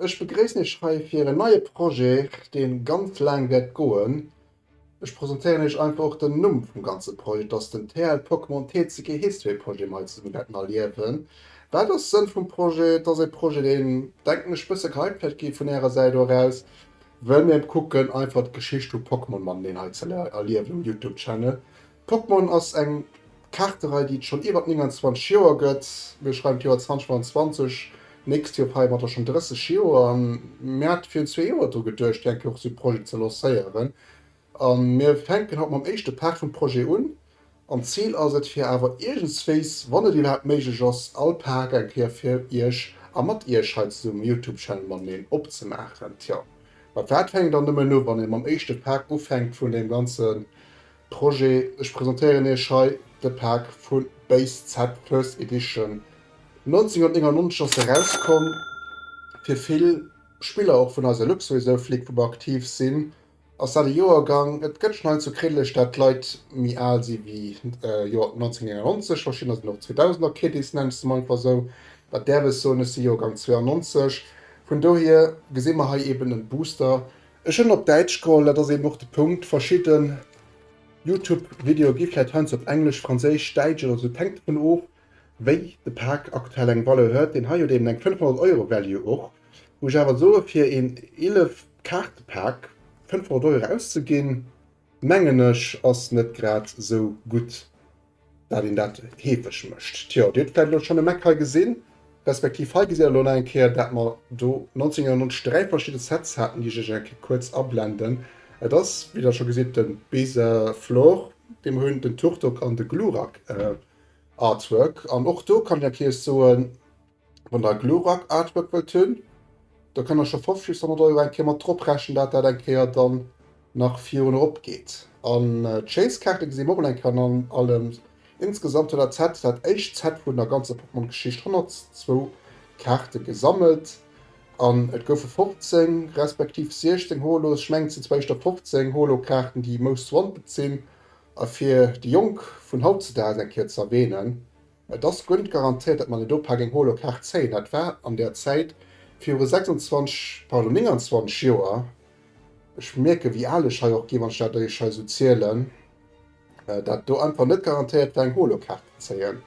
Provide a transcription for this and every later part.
Ech begréissen Iech hei fir en neie Projet, deen ganz laang wäert goen. Ech presentéieren Iech einfach och den Numm vum ganze Projet, dass den TL Pokémon TCG History Projet mer hei zesummen wäerten erliewen. Wat ass Sënn vum Projet? Et ass e Projet, deen, denken ech, e bësse gehypt wäert gi vun Ärer Säit eraus, well mir kucken einfach d'Geschicht vu Pokémon mateneen hei ze erliewen um Youtube Channel. Pokémon ass eng Kaarterei, déi et schonn iwwer 29 Joer gëtt. Mir schreiwen d'Joer 2025, d'nächst Joer feiere mer da schonn 30 Joer. A mir hate virun zwee Joer dru geduecht, fir eng Kéier och esou e Projet ze lancéieren. A mir fänken haut mam éischte Part vum Projet un. An d'Zil ass et, fir awer iergendswéis, wann et iwwerhaapt méiglech ass, all Part eng Kéier fir Iech a mat Iech hei zesummem um Youtube-Channel mateneen opzemaachen. Tjo, mat wat fänkt een dann nëmmen u, wann ee mam éischte Part ufänkt vun deem ganze. Projet, ech presentéieren Iech hei de Pak vu BassZ First Edition. 1999 ass e rauskomm, fir vill Spiller och vun eis Luxo esou flick, wou mer aktiv sinn, ass dat e Joergang, et gëtt schonn hei zu Kiddelech dat d'Leit méi al si wéi Joer 1999, verschiddener sinn och 2000er Kiddys, nennen ech se mol einfach esou, dat däerf ech soen, ech si Joergang 92. Vun dohier gesi mer hei eben e Booster Ech hunn op Däitsch geholl, dat ass eben och de Punkt. Verschidde Youtube-Videoe gi vläit heiansdo op Englesch, Franséisch, Däitsch oder esou, et hänkt dovun of, wéi de Pak aktuell eng Valeur huet. Deen hei huet eben eng 500 Euro Value och, wou ech awer soe fir een 11 Kaarte-Pak 500 Euro auszeginn, Mengen ech ass net grad sou gutt dat een dat heefeg mécht. Tjo, dir hutt vläit elo schonn e Mac hei gesinn, respektiv hei gesitt der elo nach eng Kéier dat mer do 1990 dräi verschidde Sets haten, déi ech iech eng Kéier kuerz ablenden. Et ass, wéi der scho gesitt, de Beza Flor dee mer hunn, den Turtok an de Glurak Artwork. An och do kann ech eng Kéiers soen, Wann der e Glurak Artwork wëllt hunn, da kënnt der scho 50 bis 100 Euro eng Kéier mat drop rechnen, dat dat eng Kéier dann nach virun erop geet. An d'Chase Kaarte gesi mer och mol eng Kéier an allem. Insgesamt huet dat Set, dat éischt Set vun der ganzer Pokémon Geschicht, 102 Kaarte gesammelt an et goufe 15 respektiv 16 Holos. Ech mengen et sinn zwar éischter 15 Holo Kaarten déi most wanted sinn, a fir déi Jonk vun hautzedags eng Kéier ze erwähnen, Et ass guent garantéiert dat mer net op hageng holo Kaart zéien. Dat war an der Zäit virun 26, pardon 29 Joer, ech mierken wéi al ech hei och ginn wann ech dat eech hei esou zielen, dat do einfach net garantéiert war eng holo Kaart ze zéien.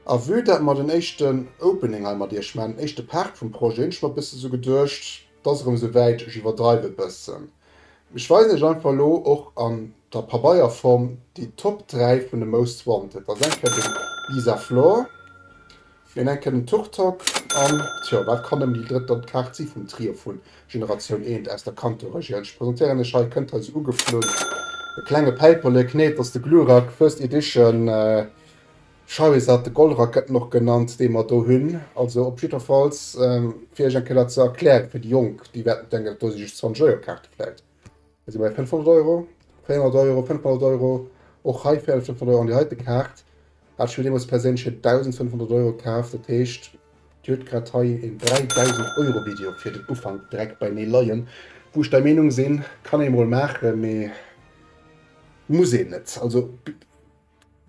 A vue dat mer den éischten Opening hei mat iech man, den éischte Part vum Projet, hunn ech mer e bësse sou geduecht, 't ass erëm sou wäit, ech iwwerdreiw e bëssen, mee ech weisen iech einfach elo och an der Pabeierform déi Top 3 vun de Most Wanted. Also eng Kéier den Lisa Flor, meen eng Kéier den Tuk Tok an, tjo, wat kann nëmmen déi drëtt dann d'Kaart si vum Trio vu Generatioun Eent aus der Kanto-Regioun. Ech presentéieren iech hei, kënnt hei sou ugeflunn, e klenge Päiperlek, nee, 't ass de Glurak, First Edition, Charizard, de Goldracketen och genannt, dee mer do hunn. Also op jiddwerfalls fir iech eng Kéier dat ze erklären, fir déi Jonk, déi wäerten denken, dat do si just 20 Euro Kaarte vläicht. Hei si mer bei 500 Euro, 400 Euro, 500 Euro, och hei 450 Euro an déi heite Kaart hat ech mir deemools perséinlech fir 1.500 Euro kaaft. Dat heescht, Dir hutt grad hei een 3.000 Euro Video fir den Ufank direkt bei mir leien, wou ech der Meenung sinn, kann ee mol maachen, mee muss een net. Also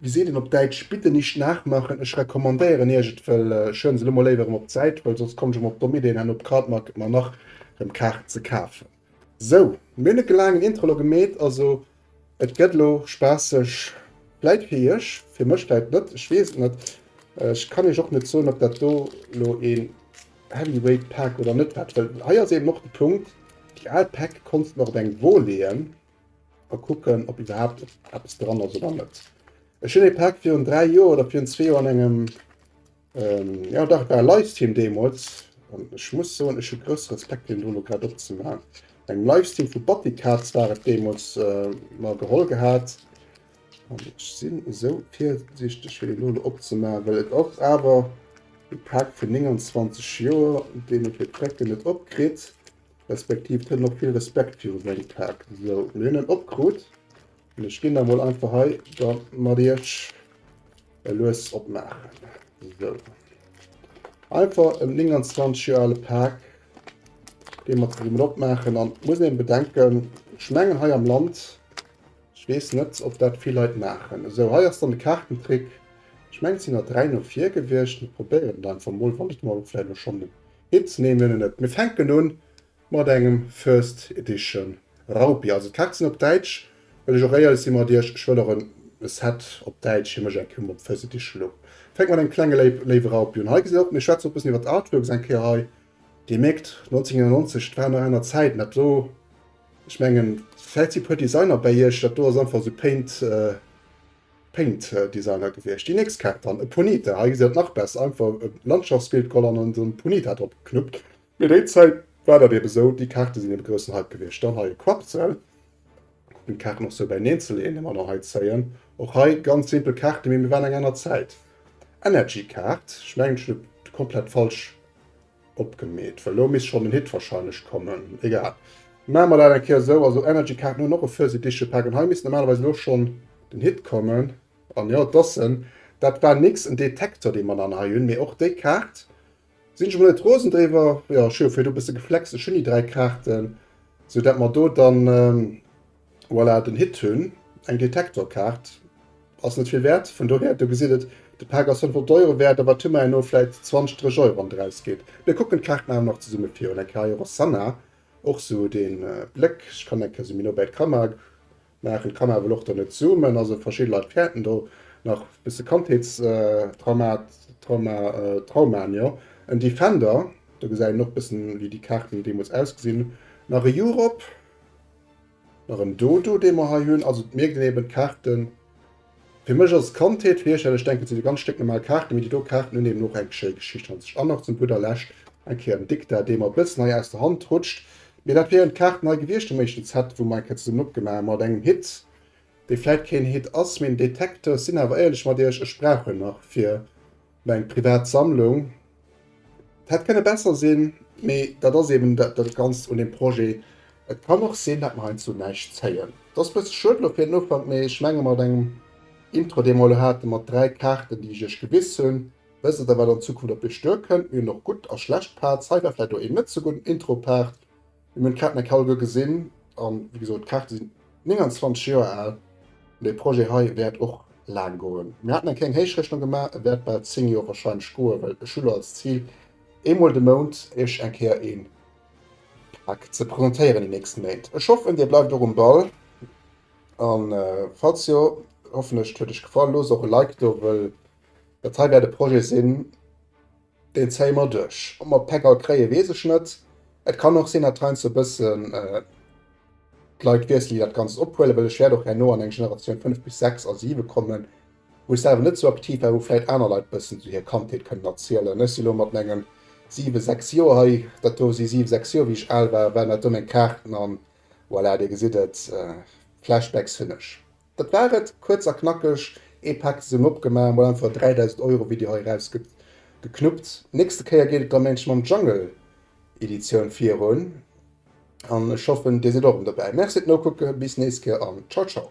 Wéi seet een op Däitsch, bitte nicht nachmachen, ech recommandéieren iech et, well ech schreiwen se elo mol léiwer erëm op d'Säit, well soss komm ech erëm op domm Ideen herno op Cardmarket mer nach erëm Kaarten ze kafen. Sou, mir hunn e gelaangen Intro elo gemeet, also et gëtt elo spaasseg, vläit fir iech, fir mech vläit net, ech weess et net. Ech kann iech och net soen, ob dat do elo een Heavyweight Pack oder net wat, well hei ass eben och de Punkt, déi al Päck konntst mer op eng Wol leeën. A kucken, ob iwwerhaapt eppes dran ass oder net. Ech hunn ee Pak virun 3 Joer oder virun zwee Joer an engem ähm, ja dach, et war e Livestream deemools. An ech muss soen, ech hu grousse Respekt, fir en dono grad opzemaachen. Engem Livestream vu Battycats war et deemools äh, mer geholl gehat. An ech sinn esou virsiichteg, fir deen dono opzemaachen, well et ass awer e Pak vun 29 Joer, deen e fir d'Recke net opkritt. Respektiv d'hënn och vill Respekt viru seng Paart. Sou, mir hunn en opkrut an ech ginn da mol einfach hei da mat iech e lues opmaachen. Sou, einfach en 29 Joer ale Paak, dee mer zesummen opmaachen an et muss een bedenken, ech mengen hei am Land, ech weess net ob dat vill Leit maachen. Sou, hei ass dann de Kaartentrick, ech mengen et sinn der 3 no vir gewiescht, mir probéieren et einfach mol, wann et mer vläicht elo schonn Hit nennen en et. Mir fänken un mat engem First Edition Raupi, also d'Kaarten op Däitsch. Well ech och éierlech si mat iech, ech wëll och en Set op Däitsch, hir mech eng Kéier op First Edition elo. Fänke mer mat engem klenge léiwe Raupi un. Hei gesitt der och, mir schwätzen och e bëssen iwwert d'Artworks eng Kéier hei. Dir mierkt 1999, et waren nach aner Zäiten. Dat do, ech mengen vläit si puer Designer bäi iech, dat do ass einfach esou Paint. Paint Designer gewiescht. Déi nächst Kaart dann, e Punita. Hei gesitt dat nach besser, einfach e Landschaftsbild geholl an esou en Punita drop geknuppt. Mee déi Zäit war dat eben esou, déi Kaarte sinn e groussen Hype gewiescht. Dann hei e Quappzell, kucken d'Kaarten och esou bäineen ze leeën, ëmmer erëm hei zéien. Och hei ganz simpel Kaarte, mee mir waren eng aner Zäit. Energy Kaart, ech mengen ech hunn et komplett falsch opgemeet, well elo misst schonn den Hit wahrscheinlech kommen. Egal, maache mer dat eng Kéier esou. Also Energy Kaarten hunn och e Fuzzy Digital Pack an hei misst normalerweis elo schonn den Hit kommen. An jo, et ass en. Dat war nix, en Detektor dee mer dann hei hunn. Mee och déi Kaart sinn ech mol net rosen driwwer. Jo, ech hu jo virdu e bësse geflext, ech hunn déi 3 Kaarten, sou dat mer do dann. Voilà den Hit hunn eng Detektorkaart ass net vill wäert, vun dohier do gesitt et de Paak ass 500 Euro wäert, awer et hu mer herno vläit 20, 30 Euro wann et eraus geet. Mir kucken d'Kaarten awer nach zesumme virun eng Kéier. Hei Rossana och sou den Bléck, ech kann eng Kéier sou méi no bäi d'Kamera maachen, d'Kamera wëll och dann net zoomen, also verschidde Leit fäerten do nach bësse Kandheetstraumaen, jo en Defender, do gesäit een och bëssen wéi déi Kaarten deemools ausgesinn hunn, nach e Europe, Nach en Dodo dee mer hei hunn, also mir ginn eben d'Kaarten, fir mech ass et Kandheet, fir iech dat ech denken et sinn ganz stécknormal Kaarten, mee déi do Kaarten hunn eben och eng schéi Geschicht hannert sech. An nach zum gudder Lescht eng Kéier den Diktat dee mer e bëssen hei aus der Hand rutscht, mee dat wieren d'Kaarten hei gewiescht dem éischten Set wou mer eng Kéier zesummen opgemaach hu mat engem Hit, dee vläit keen Hit ass, mee en Detekter. Ech sinn awer éierlech mat iech, ech brauch en nach fir Mä eng privat Sammlung, et hätt kënne besser sinn, mee dat ass eben dat Ganzt un deem Projet. Et kann och sinn, datt mer heiansdo näischt zéien. Et ass e bësse schued elo fir den Ufank, mee ech menge mat engem Intro, dee mer elo haten, mat dräi Kaarten, déi ech iech gewiss hunn, wësst der, wat an Zukunft op iech duerkënnt. Mir hunn och gutt a schlecht Parts. Hei war vläicht och een net sou gudden Intro-Part, Mir hunn d'Catnec Hall guer gesinn an wéi gesot, d'Kaarte sinn 29 Joer al. Dee Projet hei wäert och laang goen. Mir haten eng kleng Héichrechnung gemaach, e wäert bal 10 Joer warscheinlech goen, well ech hu lo als Zil eemol de Mount iech eng Kéier ee Pak ze presentéieren déi nächst Méint. Ech hoffen dir bleift och um Ball an falls jo, hoffen ech et huet iech gefall, loosst och e Like do, wëll dat hei wäert e Projet sinn, Deen zéie mer duerch. Ob mer d'Päck all kréien, weess ech net. Et kann och sinn, datt heiansdo e bëssen d'Leit wiesselen, déi dat Ganzt ophuelen, well ech wäert och herno an eng Generatioun 5 bis 6 a 7 kommen, wou ech selwer net esou aktiv war, wou vläicht aner Leit e bëssen esou hir Kandheet kënnen erzielen. Ech si lo mat mengen siwe, sechs Joer hei. Dat do si siwe, sechs Joer, wéi ech al war, waren dat do meng Kaarten an voilà, Dir gesitt et, Flashbacks hunn ech. Dat war et, kuerz a knackeg, ee Pak zesummen opgemaach, mol einfach 3000 Euro Video hei eraus geknuppt. Nächste Kéier geet et da mengt ech mam Jungle Editioun virun an ech hoffen dir sidd och rëm dobäi. Merci fir d'Nokucke, bis nächst Kéier an ciao ciao.